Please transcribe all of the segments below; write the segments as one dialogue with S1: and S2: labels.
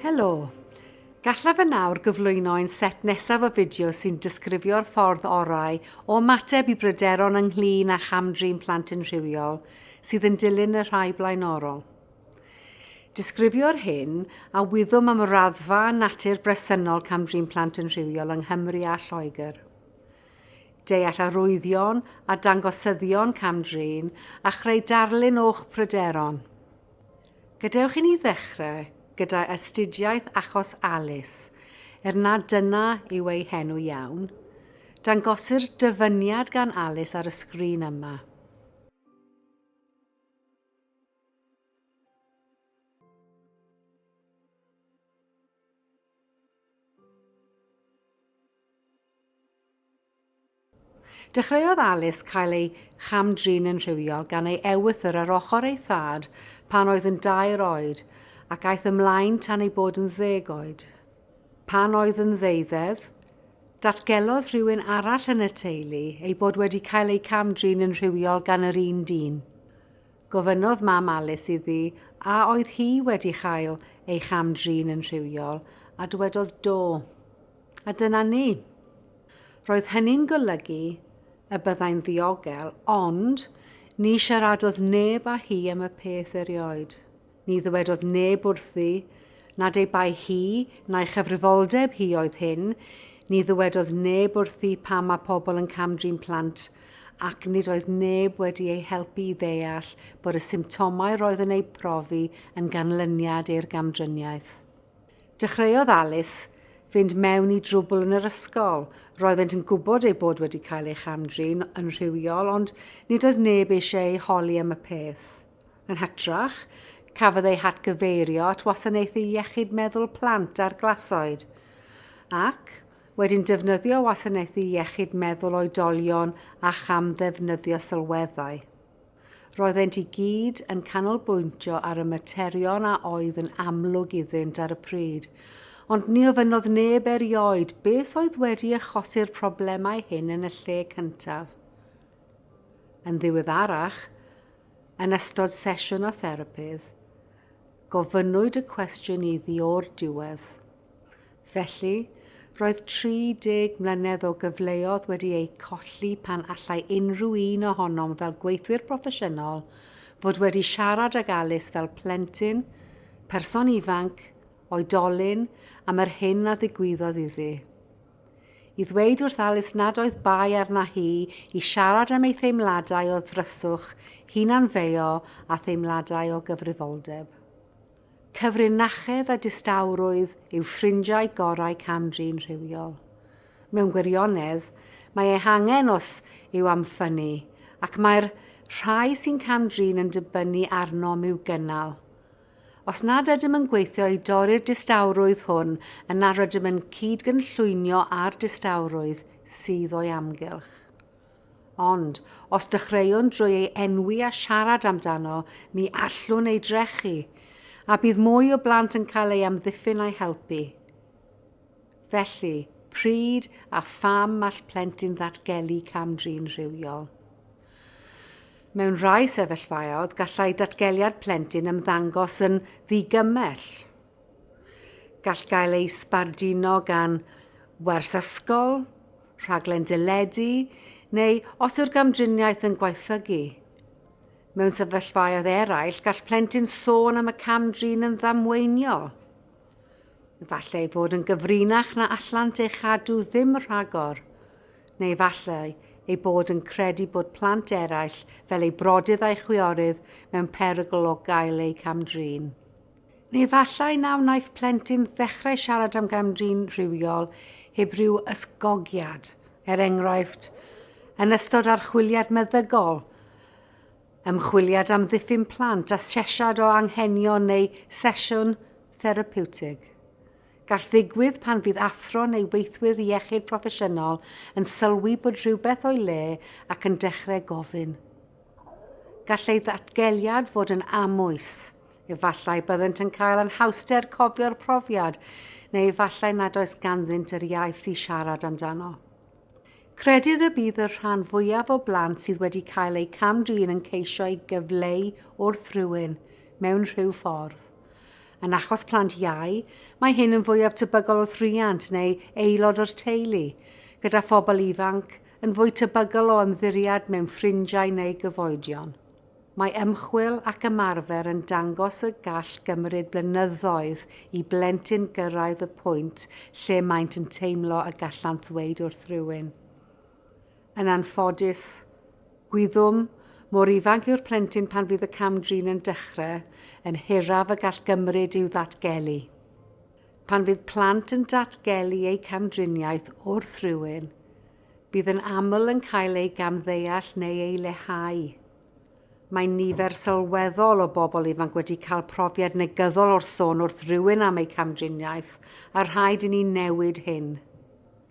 S1: Helo! Gallaf yn awr gyflwyno ein set nesaf o fideo sy'n disgrifio'r ffordd orau o ymateb i bryderon ynglyn â cham-drin plant yn rhywiol sydd yn dilyn y rhai blaenorol. Disgrifio'r hyn a wyddom am y raddfa a natur bresennol cam-drin plant yn rhywiol yng Nghymru a Lloegr. Deall arwyddion a dangosyddion cam-drin a chreu darlun o'ch pryderon. Gadewch i ni ddechrau gyda astudiaeth achos Alice, er nad dyna yw ei henw iawn. Dangosir dyfyniad gan Alice ar y sgrin yma. Dechreuodd Alice cael ei cham-drin yn rhywiol gan ei ewythr ar ochr ei thad pan oedd yn dair oed ac aeth ymlaen tan ei bod yn ddeg oed. Pan oedd yn ddeuddedd, datgelodd rhywun arall yn y teulu ei bod wedi cael ei cam-drin yn rhywiol gan yr un dyn. Gofynnodd mam Alice iddi a oedd hi wedi chael ei cham-drin yn rhywiol a dywedodd do. A dyna ni. Roedd hynny'n golygu y byddai'n ddiogel, ond ni siaradodd neb â hi am y peth erioed. Ni ddywedodd neb wrthi nad ei bai hi na'i chyfrifoldeb hi oedd hyn, ni ddywedodd neb wrthi pam mae pobl yn cam-drin plant, ac nid oedd neb wedi ei helpu i ddeall bod y symptomau roedd yn eu profi yn ganlyniad i'r gamdriniaeth. Dechreuodd Alice fynd mewn i drwbl yn yr ysgol. Roeddent yn gwybod eu bod wedi cael ei cham-drin yn rhywiol, ond nid oedd neb eisiau eu holi am y peth. Yn hytrach, cafodd eu hatgyfeirio at Wasanaethu Iechyd Meddwl Plant a'r Glasoed, ac wedyn defnyddio Wasanaethu Iechyd Meddwl Oedolion a cham-ddefnyddio sylweddau. Roeddent i gyd yn canolbwyntio ar y materion a oedd yn amlwg iddynt ar y pryd, ond ni ofynnodd neb erioed beth oedd wedi achosi'r problemau hyn yn y lle cyntaf. Yn ddiweddarach, yn ystod sesiwn â therapydd, gofynnwyd y cwestiwn iddi o'r diwedd. Felly, roedd 30 mlynedd o gyfleodd wedi eu colli pan allai unrhyw un ohonom fel gweithwyr proffesiynol fod wedi siarad ag Alice fel plentyn, person ifanc, oedolyn am yr hyn a ddigwyddodd iddi. I ddweud wrth Alice nad oedd bai arna hi i siarad am ei theimladau o ddryswch, hunanfeio a theimladau o gyfrifoldeb. Cyfrinachedd a distawrwydd yw ffrindiau gorau cam-drin rhywiol. Mewn gwirionedd, mae eu hangen os yw am ffynnu, ac mae'r rhai sy'n cam-drin yn dibynnu arnom i'w gynnal. Os nad ydym yn gweithio i dorri'r distawrwydd hwn, yna rydym yn cyd-gynllwynio â'r distawrwydd sydd o'i amgylch. Ond, os dechreuwn drwy ei enwi a siarad amdano, mi allwn ei drechu, a bydd mwy o blant yn cael ei amddiffyn a'i helpu. Felly, pryd a pham all plentyn ddatgelu cam-drin rhywiol? Mewn rhai sefyllfaoedd, gallai datgeliad plentyn ymddangos yn ddigymell. Gall gael ei sbarduno gan wers ysgol, rhaglen deledu neu os yw'r gamdriniaeth yn gwaethygu. Mewn sefyllfaoedd eraill, gall plentyn sôn am y cam-drin yn ddamweiniol. Efallai ei fod yn gyfrinach na allant ei chadw ddim rhagor, neu efallai ei bod yn credu bod plant eraill, fel ei brodydd a'i chwiorydd, mewn perygl o gael eu cam-drin. Neu efallai na wnaiff plentyn ddechrau siarad am gam-drin rhywiol heb ryw ysgogiad, er enghraifft, yn ystod archwiliad meddygol, ymchwiliad am ddiffyn plant, asesiad o anghenion neu sesiwn therapiwtig. Gall ddigwydd pan fydd athro neu weithwyr iechyd proffesiynol yn sylwi bod rhywbeth o'i le ac yn dechrau gofyn. Gall ei ddatgeliad fod yn amwys. Efallai byddent yn cael anhawster cofio'r profiad, neu efallai nad oes ganddynt yr iaith i siarad amdano. Credid y bydd y rhan fwyaf o blant sydd wedi cael eu cam-drin yn ceisio ei gyfleu wrth rywun, mewn rhyw ffordd. Yn achos plant iau, mae hyn yn fwyaf tebygol wrth riant neu aelod o'r teulu, gyda phobl ifanc yn fwy tebygol o ymddiriad mewn ffrindiau neu gyfoedion. Mae ymchwil ac ymarfer yn dangos y gall gymryd blynyddoedd i blentyn gyrraedd y pwynt lle maent yn teimlo y gallant ddweud wrth rywun. Yn anffodus, gwyddom, mor ifanc yw'r plentyn pan fydd y cam-drin yn dechrau, yn hiraf y gall gymryd i'w ddatgelu. Pan fydd plant yn datgelu eu camdriniaeth wrth rywun, Bydd yn aml yn cael ei gamddeall neu ei leihau. Mae nifer sylweddol o bobl ifanc wedi cael profiad negyddol o'r sôn wrth rywun am eu camdriniaeth a rhaid i ni newid hyn.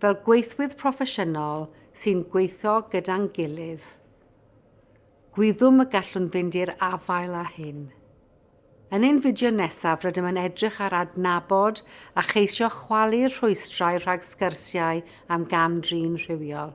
S1: Fel gweithwyr proffesiynol sy'n gweithio gyda'n gilydd, gwyddom y gallwn fynd i'r afael â hyn. Yn ein fideo nesaf rydym yn edrych ar adnabod a cheisio chwalu'r rhwystrau rhag sgyrsiau am gam-drin rhywiol.